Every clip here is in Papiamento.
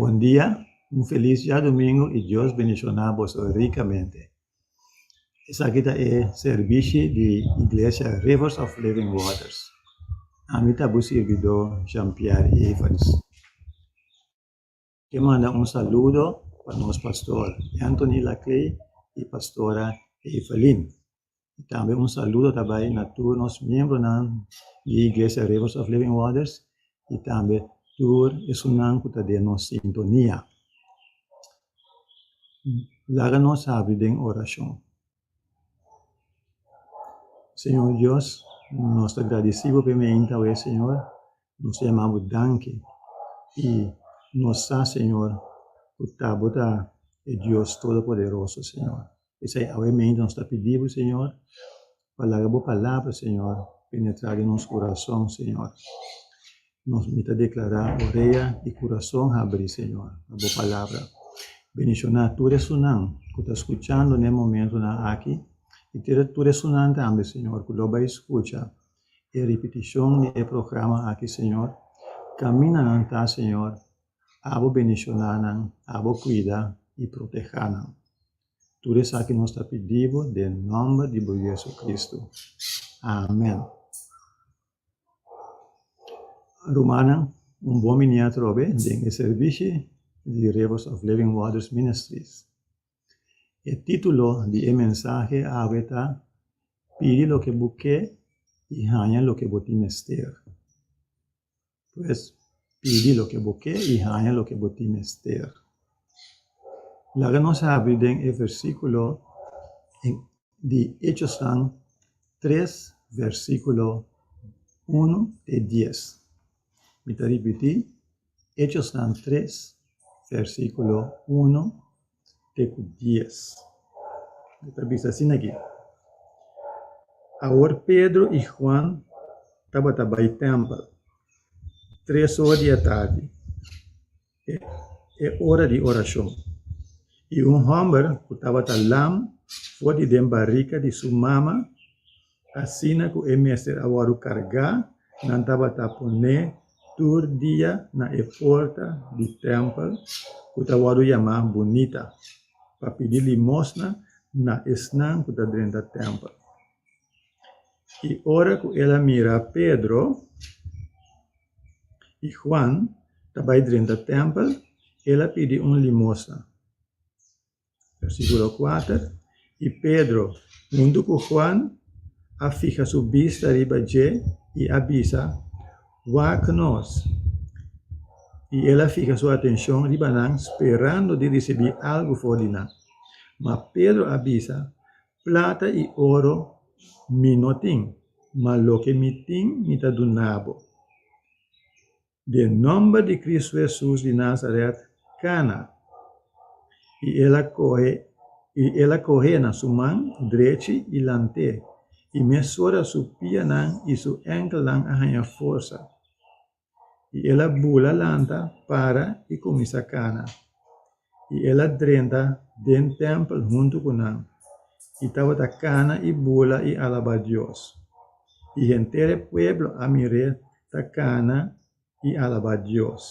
Bon dia, un felis diadomingu i Dios bendishoná boso rikamente. Esaki ta e sèrbishi di Iglesia Rivers of Living Waters. Ami ta bo sirbidó Jean Pierre Evans. Ke manda un saludo pa nos pastor Anthony Laclay y pastora Evelyn. Y tambe un saludo ta bay na tur nos miembronan di Iglesia Rivers of Living Waters y tambe tur esunnan cu ta den nos sintonia. Laga nos habri den oracion. Señor Dios, nos ta gradecé bo pa e mainta awor, Señor. Nos ta yama bo danki. I nos sa, Señor, cu ta bo ta e Dios Todopoderoso, Señor. P'esei awor e mainta nos ta pidi bo, Señor, pa laga bo Palabra, Señor, penetra den nos curason, Señor. nos mi ta deklará, Orea i kurason habrí, Señor, pa Bo palabra. Bendishoná tur esunnan ku ta skuchando na e momentunan aki i tur esunnan tambe, Señor, ku lo bai skucha e ripitishon di e programa aki, Señor. Kaminda nan ta, Señor, a Bo bendishoná nan, a Bo kuida i protehá nan. Tur esaki nos ta pidí Bo den nòmber di Bo Jesucristo. Amèn. Rumannan, un bon miniá trobe den e servishi di Rivers of Living Waters Ministries. E título di e mensahe awe ta Pidi loke bo ke i haña loke bo tin mester. Pues, pidi loke bo ke i haña loke bo tin mester. Laga nos habri den e versíkulo. di Hechosnan tres versíkulo unu te dies. Mi ta ripití, Hechosnan tres versíkulo unu te ku dies. E ta bisa asin akí, Awor Pedro i Juan tabata bai tèmpel tres or di atardi. e ora di orashon, i un hòmber ku tabata lam for di den barika di su mama, asina ku e mester a wòru kargá, nan tabata pon'é tur dia na e porta di tèmpel ku ta wòru yamá Bunita, pa pidi limosna na esnan ku ta drenta tèmpel. I ora ku el a mira Pedro. I Juan ta bai drenta tèmpel, el a pidi un limosna. Versíkulo kuater, I Pedro huntu ku Juan a fiha su bista riba dje i a bisa, Wak nos! I el a fiha su atenshon riba nan sperando di risibí algu for di nan. Ma Pedro a bisa, Plata i oro mi no tin, ma loke mi tin mi ta duna bo. Den nòmber di Kristu Hesus di Nasaret, kana. I el a kohe i el a kohe na su man drechi i lant'é, i mesora su pianan i su ènkelnan a haña forsa. i el a bula lanta, para i kuminsá kana. I el a drenta den tèmpel huntu ku nan, i tabata kana i bula i alabá Dios. I henter e pueblo a mir'é ta kana i alabá Dios,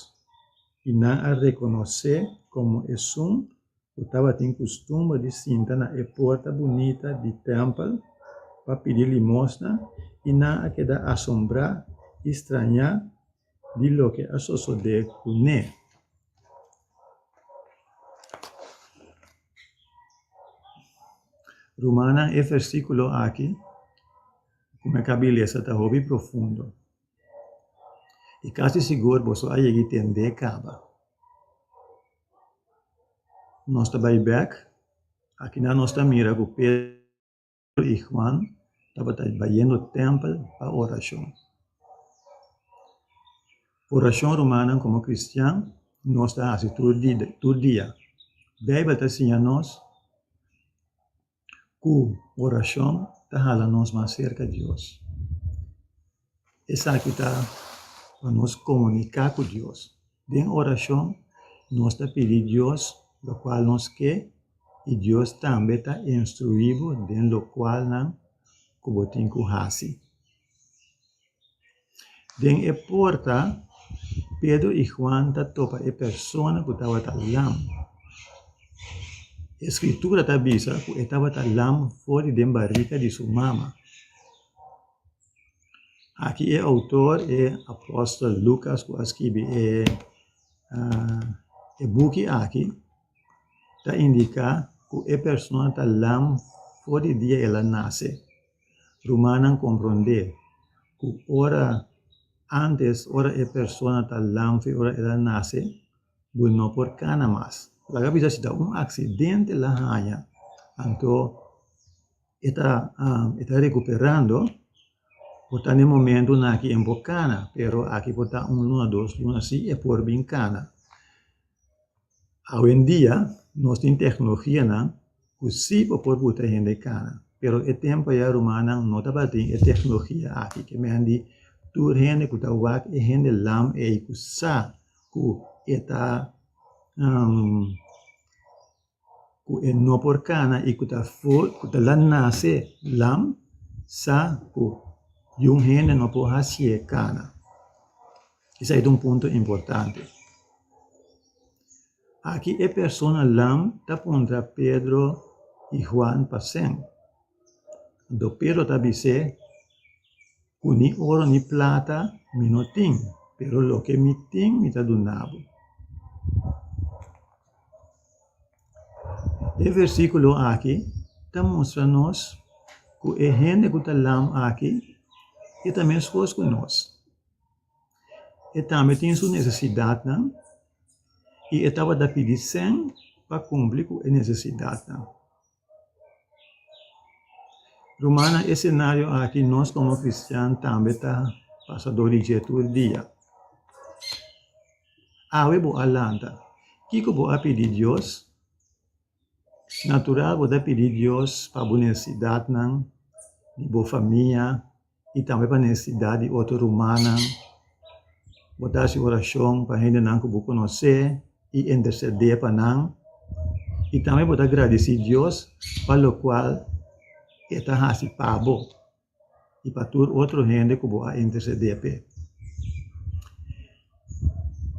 i nan a rekonos'é komo esun ku tabatin kustumber di sinta na e porta bunita di tèmpel pa pidi limosna i nan a keda asombrá i strañá di loke a sosodé ku ne. Rumannan, e versíkulo aki ku mi a kab'e lesa ta hopi profundo. I kasi sigur boso a yega i tende kaba. Nos ta bai bek. Akinan nos ta mira ku Pedru i Huan tabata bayendo tèmpel pa orashon. Orashon, rumannan, komo kristian nos ta hasi tur tur dia. Beibel ta siña nos ku orashon ta hala nos mas serka Dios. Esaki ta pa nos komuniká ku Dios. Den orashon nos ta pidi Dios lokual nos ke i Dios tambe ta instruí bo den lokualnan ku bo tin ku hasi. Den e porta, Pedru i Huan ta topa e persona ku tabata lam. E Skritura ta bisa ku e tabata lam for di den barika di su mama. Aki e outor, e apòstel Lukas ku a skibi e buki aki, ta indiká ku e persona ta lam for di dia el a nase. Rumannan komprondé ku ora ántes, ora e persona ta lamfe ora el a nase, bo no por kana mas. Laga bisa si ta un aksidente el a haña, anto e ta e ta rekuperando, por ta den momentunan aki e no por kana, pero aki por ta un luna, dos luna así e por bin kana. Awendia nos tin teknologianan ku si por por putra hende kara pero e tempu aya rumannan no tabatin e teknologia aki ke mehen di tur hende ku ta wak e hende lam ei ku sa ku e ta. ku e no por kana i ku ta for ku ta la nase lam sa ku yun hende no por hasié kana esei ta un punto importante aki e persona lam ta puntra Pedro i Huan pasen do Pedro ta bis'é. Cu ni oro ni plata mi no tin, pero loke mi tin mi ta duna bo. E versiculo aki ta mustra nos cu e hende cu ta lam aki e ta mescos cu nos, e tambe tin su necesidadnan y e tabata pidi sen pa cumpli cu e necesidadnan. Ruman, na e senario aki nos komo kristian tambe ta pasadó di dje tur dia. Awe bo a lanta, kiko bo a pidi Dios? Natural bo ta pidi Dios pa bo nesesidatnan, di bo famia. i tambe pa nesesidat di otro rumannan. Bo ta hasi orashon pa hendenan ku bo konosé i entèrsèdé pa nan. I tambe bo ta gradisí Dios pa lokual e ta hasi pa bo i pa tur otro hende ku bo a entèrsèdé p'e.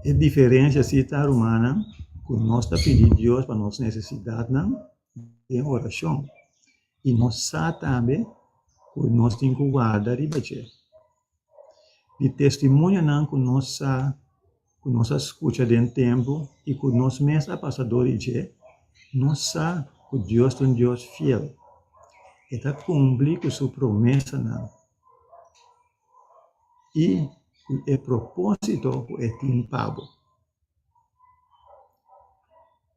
E diferensia si ta, rumannan, ku nos ta pidi Dios pa nos nesesidatnan den orashon. I nos sa tambe ku nos tin ku warda riba dje. Di testimonionan ku nos sa ku nos a skucha den templu i ku nos mes a pasa dor di dje, nos sa ku Dios ta un Dios fiel. E ta kumpli ku su promesanan i ku e propósito ku e tin pa bo.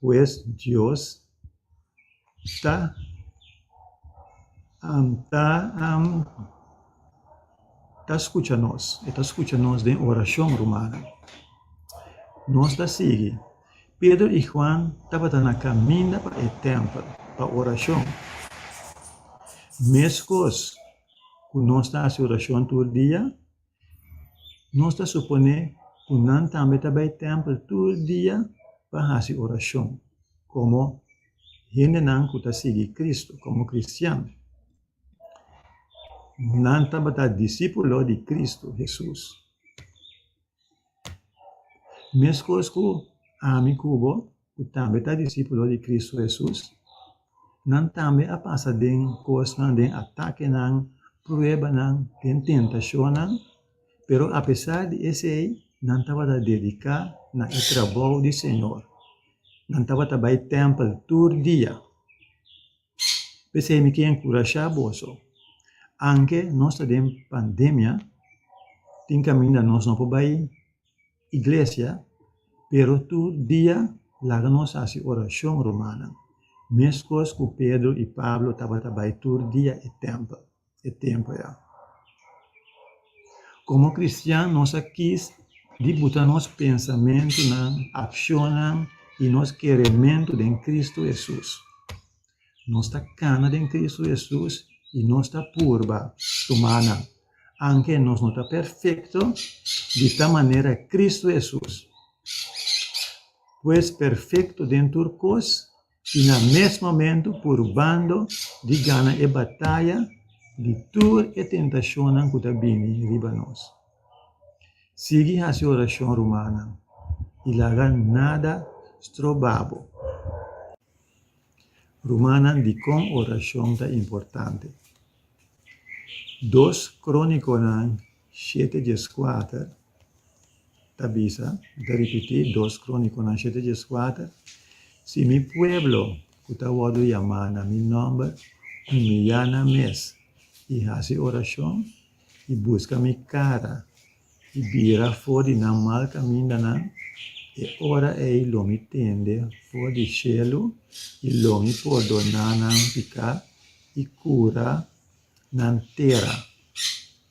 Pues, Dios ta ta ta scucha nos. E ta scucha nos den oracion, rumannan. Nos ta sigui. Pedro i Juan tabata na caminda pa e tempel pa oracion. Mescos cu nos ta hasi oracion tur dia, Nos ta suponé ku nan tambe ta bai tèmpel tur dia pa hasi orashon komo hendenan ku ta sigui Kristu, komo kristian. Nan tabata disipulo di Kristu Hesus. Meskos ku ami ku bo. ku tambe ta disipulnan di Kristu Hesus, nan tambe a pasa den kosnan, den atakenan, pruebanan, den tentashonnan. Pero apesar di esei, nan tabata dediká na e trabou di Señor. Nan tabata bai tèmpel tur dia. P'esei mi ken enkurashá boso, aunke nos ta den pandemia, tin kaminda nos no por bai iglesia, pero tur dia laga nos hasi orashon rumannan, meskos ku Pedro i Pablo tabata bai tur dia e tèmpel. e tempu ya. Komo kristian nos a kis di buta nos pensamentunan, akshonnan i nos kerementu den Kristu Hesus. Nos ta kana den Kristu Hesus i nos ta purba tuma nan. Aunke nos no ta perfekto, di ta manera Kristu Hesus, pues perfekto den tur kos. i na mes momentu purbando di gana e bataya di tur e tentashonnan ku ta bini riba nos. Sigui hasi orashon, rumannan, i laga nada stroba bo. Rumannan, dikon orashon ta importante? Dos Krónikonan Shete djes kuater ta bisa, mi ta ripití, dos Krónikonan shete djes kuater, Si mi pueblo ku ta wòrdu yamá na mi nòmber humiliá nan mes i hasi orashon i buska mi kara i bira for di nan mal kamindanan, e ora ei lo mi tende for di shelu i lo mi pordoná nan piká i kura nan tera.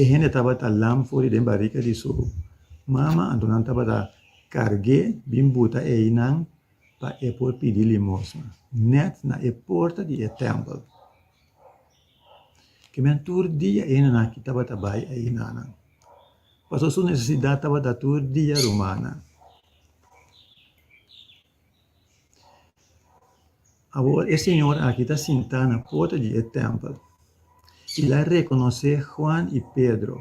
E hende tabata lam for di den barika di su mama, anto nan tabata kargu'é bin buta einan pa e por pidi limosna nèt na e porta di e tèmpel. Kimin tur dia e hendenan aki tabata bai einanan, pasobra su nesesidat tabata tur dia rumannan. Awor e señor aki ta sintá na porta di e tèmpel, i el a rekonosé Juan i Pedro,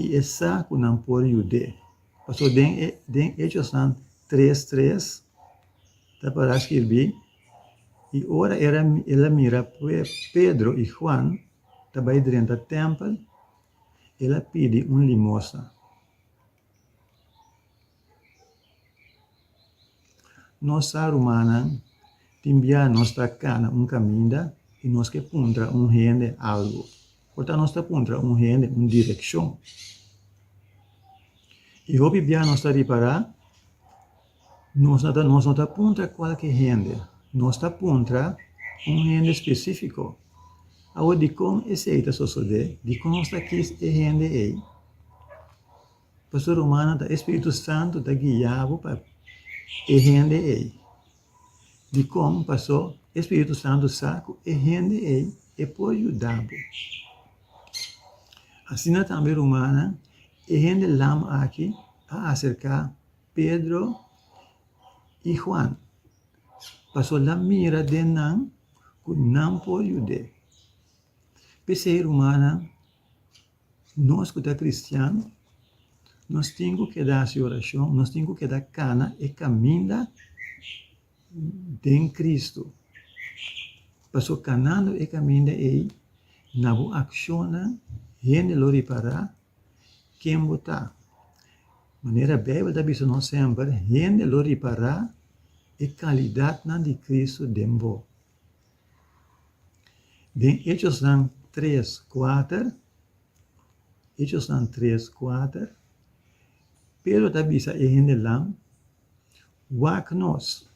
i e sa ku nan por yud'é. Pasobra den e den Hechosnan tres tres ta pará skirbí, I ora e era el a mira Pedro i Juan ta bai drenta tèmpel, el a pidi un limosna. Nos sa rumannan tin bia nos ta kana un kaminda i nos ke puntra un hende algu. Por ta nos ta puntra un hende un direkshon. I hopi bia nos ta ripará nos no ta nos no ta puntra kualke hende, nos ta puntra un hende spesífiko. Awe dikon esei ta sosodé? Dikon nos ta kis e hende ei? Pastor Romana ta e Spiritu Santu ta guia bo pa e hende ei. Dikon? Paso e Spiritu Santu sa ku e hende ei e por yuda bo. Asina tambe Romana, e hende lam aki a aserka Pedro i Juan, paso el a mira den nan ku nan por yud'é. P'esei Romana, Nos ku ta kristian, nos tin ku keda hasi orashon, nos tin ku keda kana e kaminda den Kristu. Pasobra kanando e kaminda ei, na bo akshonnan hende lo ripará ken bo ta. Manera Beibel ta bisa nos semper, hende lo ripará e kalidatnan di Kristu den bo. Den Hechosnan tres kuater, Hechosnan tres kuater, Pedro ta bisa e hendenan, Wak nos,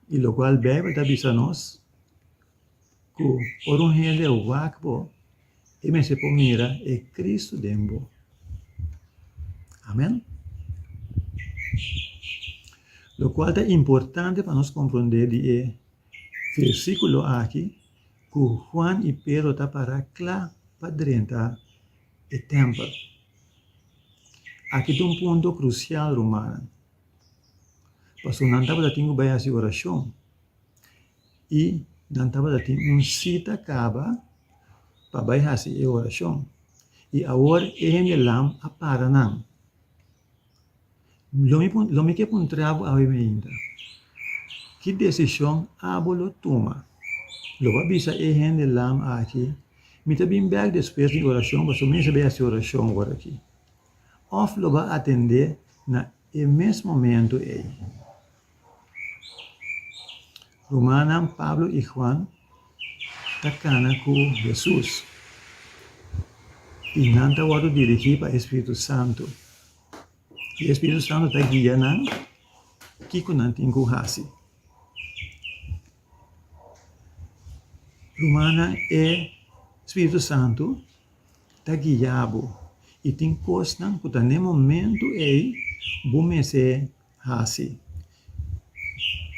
i lokual Beibel ta bisa nos, ku ora un hende a wak bo, e mester por mira e Kristu den bo. Amen. Lokual ta importante pa nos komprondé di e versíkulo aki ku Juan i Pedro ta pará kla pa drenta e tèmpel. Aki ta un punto krusial, rumannan, pasobra nan tabata tin ku bai hasi orashon. i nan tabata tin un sita kaba pa bai hasi e orashon. I awor e hendelam a para nan. Lo mi lo mi ke puntra bo awe ainda, ki desishon abo lo tuma? Lo bo a bisa e hendelam aki, Mi ta bin bèk despues di orashon pasobra mi mester bai hasi orashon wòrdu aki? Òf lo bo a atendé na e mes momentu ei? Rumannan Pablo i Juan ta kana ku Hesus, i nan ta wòrdu dirigí pa e spiritu santu. I e spiritu santu ta guia nan kiko nan tin ku hasi. Rumannan, e spiritu santu ta guia bo, i tin kosnan ku ta na e momentu ei bo mester hasi.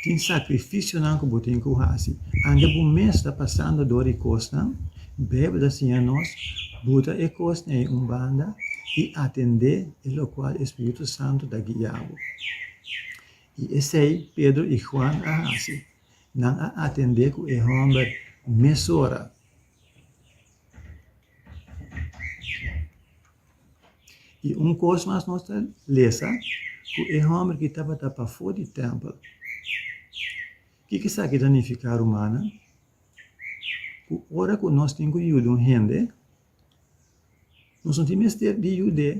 Tin sakrifisionan ku bo tin ku hasi. Anto bo mes ta pasando dor e kosnan, Beibel ta siña nos, buta e kosnan ei un banda i atendé e lokual e spiritu santu ta guia bo. I esei Pedro i Juan a hasi. Nan a atendé ku e hòmber mesora. I un kos mas nos ta lesa, ku e hòmber ki tabata pafó di tèmpel. Ke ki sa ki ta nifiká rumannan? Ku ora ku nos tin ku yuda un hende, nos no tin mester di yud'é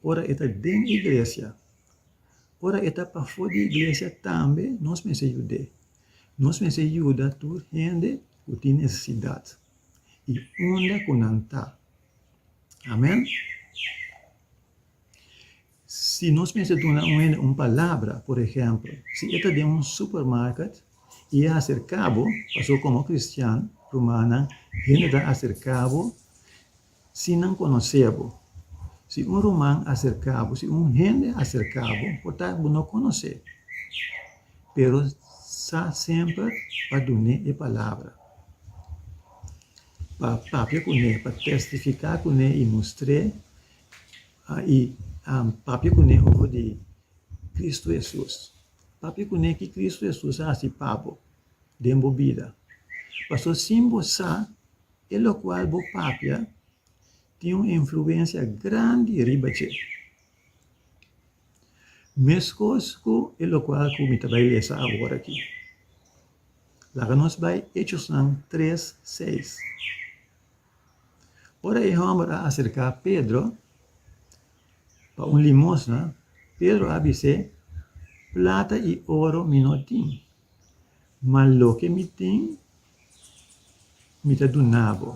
ora e ta den iglesia. Ora e ta pafó di iglesia tambe nos mester yud'é. Nos mester yuda tur hende ku tin nesesidat, i unda ku nan ta. Amen. Si nos mester duna un hende un palabra, por ehempel, si e ta den un supermarket i e aserká bo, pasobra bo komo kristian, rumannan, hende ta aserká bo sin nan konosé bo. Si un ruman aserká bo, si un hende aserká bo, por ta bo no konos'é, pero sa semper pa dun'é e palabra. pa papia cu ne, pa testifica cu ne y mostr'e y papia cu ne over di Cristo Jesus. Papia cu ne ki Cristo Jesus a haci pa bo den bo bida. Paso sin bo sa, e locual bo papia tin un influencia grandi riba dje. Mescos cu e locual cu mi ta bay lesa awor aki. Laga nos bai Hechosnan tres, seis. Ora e hòmber a aserká Pedro pa un limosna, Pedro a bis'é, Plata i oro mi no tin, ma loke mi tin mi ta duna bo.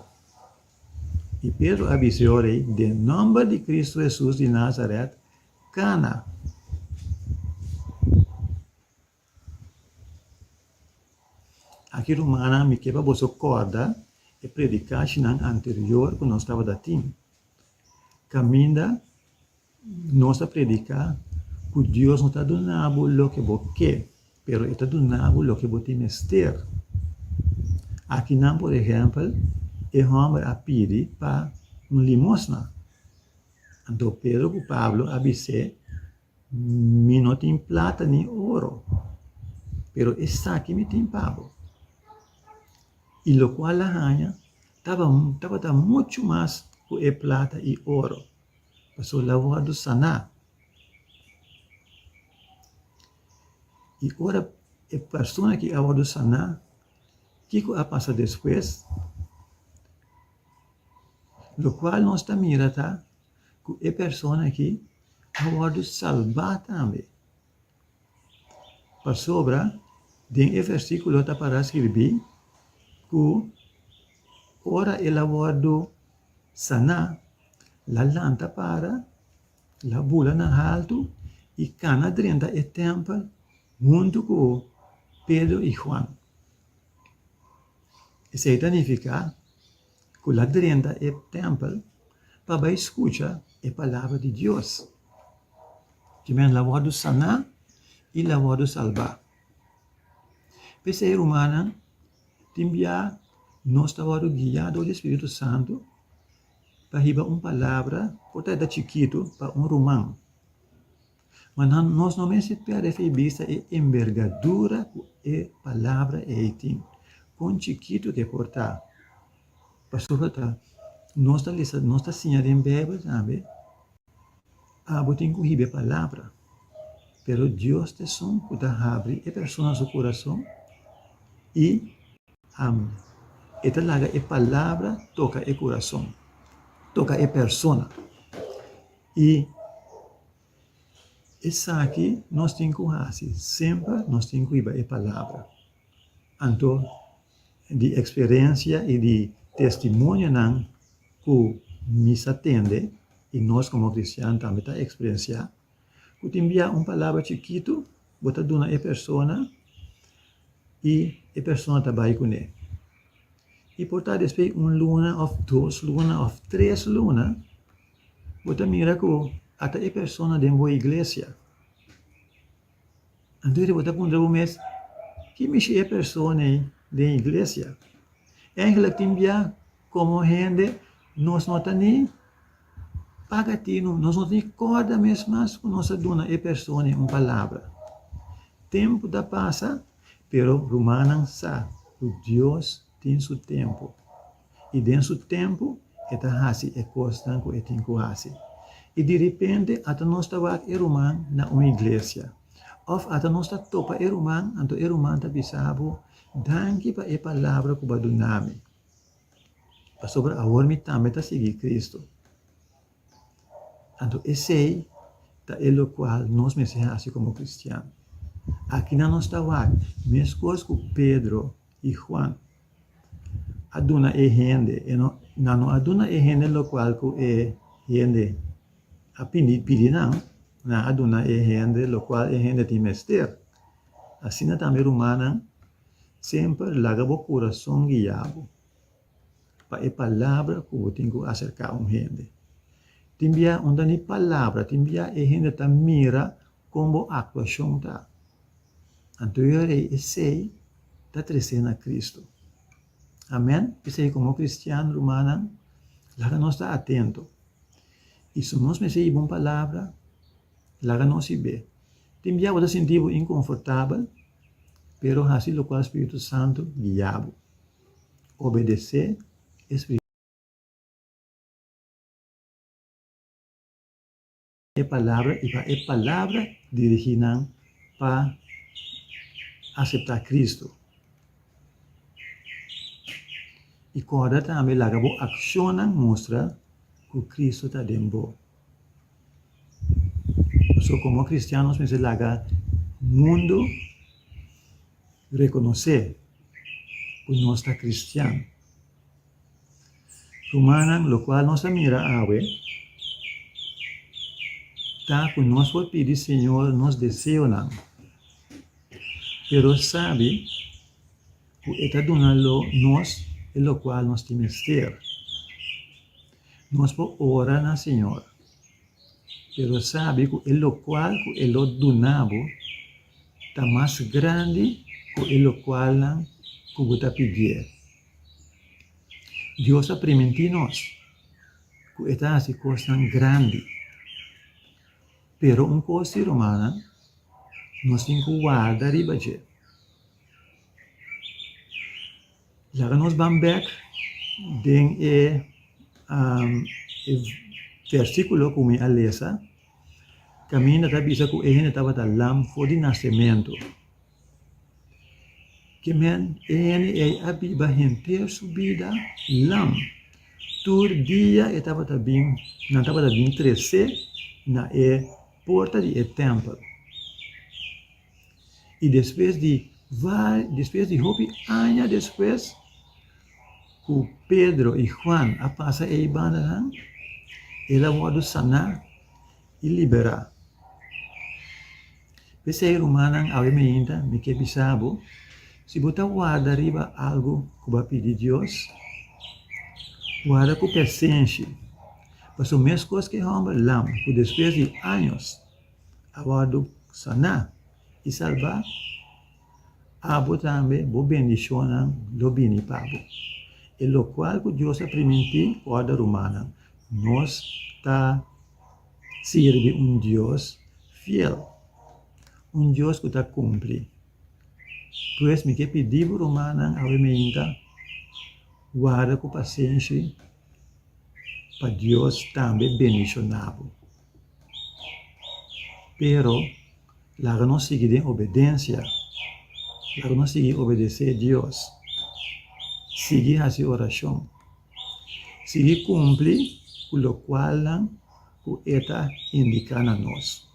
I Pedro a bis'é orai, Den nòmber di Kristu Hesus di Nasaret, kana! Aki rumannan, mi ke pa boso kòrda e predikashinan anterior ku nos tabata tin. Kaminda nos ta prediká ku Dios no ta duna bo loke bo ke, pero e ta duna bo loke bo tin mester. Akinan, por ehèmpel, e hòmber a pidi pa un limosna. Anto Pedro ku Pablo a bis'é Mi no tin plata ni oro, pero esaki mi tin pa bo, i lokual a haña tabata muchu mas ku e plata i oro, pasobra bo a saná. I ora e persona ku a wòrdu saná, kiko a pasa despues? Lokual nos ta mira ta, cu e persona aki a wordo salba tambe. Pasobra den e versiculo ta para sciribi cu ora el a wordo sana, el a lanta para, el a bula na haltu y cana drenta e tempel huntu cu Pedro y Juan. Esey ta nifica. ku la drenta e tèmpel pa bai skucha e palabra di Dios. Ki mester la wòrdu saná i la wòrdu salbá. P'esei, rumannan, tin bia nos ta wòrdu guiá dor di e spiritu santu pa hiba un palabra, p'or ta e ta chikitu, pa un ruman. Ma nan, nos no mester pèrdè di bista e enbergadura ku e Palabra ei tin, kon chikitu ke por ta. Pasobra ta nos ta lesa, nos ta siña den Beibel tambe, Abo tin ku hib'e Palabra, pero Dios ta esun ku ta habri e persona su kurason i anda. E ta laga e Palabra toka e kurason, toka e persona i. Esaki nos tin ku hasi semper, nos tin ku hiba e palabra. Anto di eksperensia i di testimonionan ku mi sa tende i nos komo kristian tambe ta eksperensiá, ku tin biaha un palabra chikitu bo ta duna e persona i e persona ta bai kuné. I por ta despues di un luna òf dos luna òf tres luna Bo ta mira ku ata e persona den bo iglesia. Anto bo ta puntra bo mes, Ki mishi e persona ei den iglesia? Eigentlek tin bia komo hende nos no ta ni paga tinu, nos no ta ni kòrda mes mas ku nos a duna e persona ei un palabra. Tempu ta pasa, pero rumannan sa ku Dios. tin su tempu, i den su tempu e ta hasi e kosnan ku e tin ku hasi. I di repente ata nos ta wak e ruman na un iglesia, òf ata nos ta topa e ruman, anto e ruman ta bisa bo, Danki pa e palabra ku bo a duna mi, pasobra awor mi tambe ta sigui Kristu. Anto esei ta e lokual nos mester hasi komo kristian. Akinan nos ta wak meskos ku Pedro. I Juan a duna e hende, e no, nan no a duna e hende lokual ku e hende a pini pidi nan, nan a duna e hende lokual e hende tin mester. Asina tambe rumannan, semper laga bo kurason guia bo. pa e palabra cu bo tin cu acerca un hende. Tin bia unda ni palabra, tin bia e hende ta mira con bo actuacion ta. Anto yo rei esey ta trece na Cristo. Amen? P'esey como cristiano, rumannan, laga nos ta atento. Y si nos mester yiba un palabra, laga nos yib'e. Tin bia bo ta sinti bo inconfortabel, pero haci locual Spiritu Santo guia bo. obedesé e Spritu Santu e palabra i pa e palabra dirigí nan pa aseptá Kristu. I kòrda tambe laga bo akshonnan mustra ku Kristu ta den bo. So komo kristian nos mester laga mundu. Rekonosé ku nos ta kristian. Rumannan, lokual nos a mira awe ta ku nos por pidi Señor nos deseonan, pero sabi ku e ta duna lo nos e lokual nos tin mester. Nos por ora na Señor. pero sabi ku e lokual ku e lo duna bo ta mas grandi ku e lokualnan ku bo ta pidié. Dios a primintí nos ku e ta hasi kosnan grandi, pero un kos si, rumannan, nos tin ku warda riba dje. Yara nos ban bek den e versikulo ku mi a lesa, kaminda ta bisa ku e hende tabata lam for di nasementu. Ke men, e hende ei a biba henter su bida lam. Tur dia e tabata bin, nan tabata bin tresé na e porta di e tèmpel. I despues di vari, despues di hopi aña despues ku Pedro i Juan a pasa e ibandanan, el a wòrdu saná i liberá. P'esei, rumannan, awe mi yinta, mi ke bisa bo, si bo ta warda riba algu ku bo a pidi Dios, warda ku pesenshi, pasobra meskos ku e hòmber lam ku despues di años, a wòrdu saná i salbá, abo tambe bo bendishonnan lo bini pa bo. E lokual ku Dios a primintí wòrdu rumannan, nos ta sirbi un Dios fiel, un Dios ku ta kumpli. Pues mi ke pidi bo rumannan aweminta, warda ku pasenshi pa Dios tambe bendishoná bo. Pero, laga nos sigui den obedensia. Laga nos sigui obedesé Dios. Sigui hasi orashon. Sigui kumpli ku lokualnan ku e ta indiká na nos.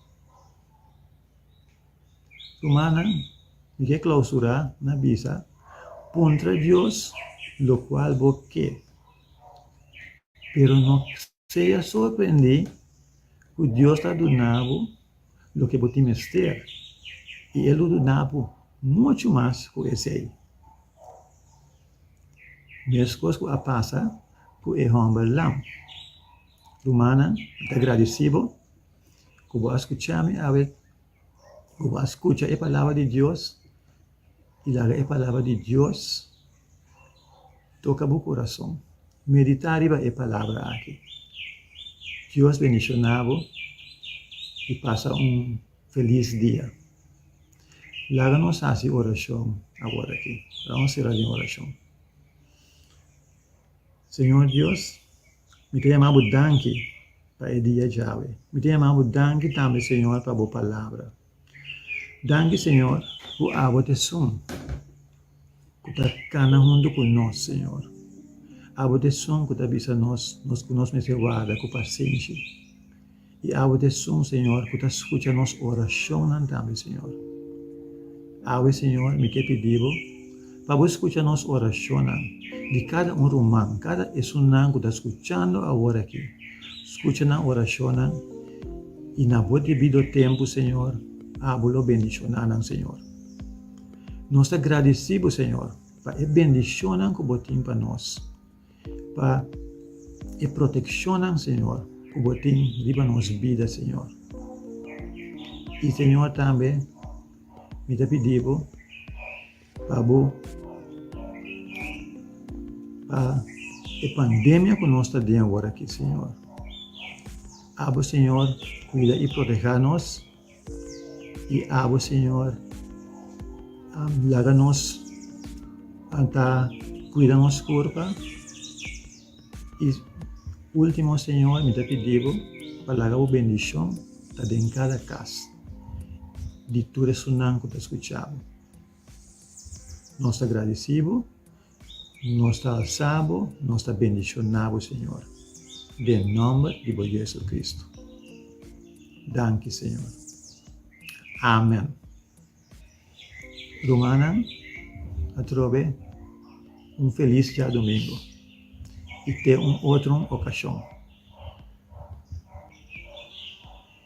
Rumannan, mi ke klausurá ku a bisa, Puntra Dios lokual bo ke, pero no Sigue a sorprendí ku Dios ta duna bo loke bo tin mester i e lo duna bo muchu mas ku esei. Meskos ku a pasa ku e hòmber lam. Rumannan, mi ta gradisí bo ku bo a skuchá mi awe, ku bo a skucha e palabra di Dios. i laga e Palabra di Dios toka bo kurason. Meditá riba e Palabra aki. Dios bendishoná bo i pasa un felis dia. Laga nos hasi orashon aworakí. Laga nos sera den orashon. Señor Dios, mi ta yamá bo danki pa e dia djawe. Mi ta yamá bo danki tambe, Señor, pa bo Palabra. Danki, Señor, ku abo ta esun ku ta kana huntu ku nos, Señor. Abo ta esun ku ta bisa nos nos ku nos mester warda ku pasenshi. I abo ta esun, Señor, ku ta skucha nos orashonnan tambe, Señor. Awe, Señor, mi ke pidi bo. Pa Bo scucha nos oracionnan, di cada un ruman, cada esunnan cu ta scuchando awor aki. Scucha nan oracionnan y na Bo debido tempu, Señor, abo lo bendicionanan, Señor. Nos ta gradici Bo, Señor, pa e bendicionnan cu Bo tin pa nos. Pa e protekshonnan, señor, ku bo tin riba nos bida, señor. I señor tambe mi ta pidi bo pa bo pa e pandemia ku nos ta den awor aki, señor. Abo señor kuida i protehá nos. I abo, Señor, laga nos a ta cuida nos curpa. I ultimo, Señor, mi ta pidi bo pa laga bo bendicion ta den cada cas di tur esunnan cu ta scucha bo. Nos ta gradici bo Nos ta alsá bo, nos ta bendishoná bo, Señor, den nòmber di bo Yu Jesucristo. Danki, Señor. Amèn. Rumannan, atrobe un felis djadumingu i te un otro okashon.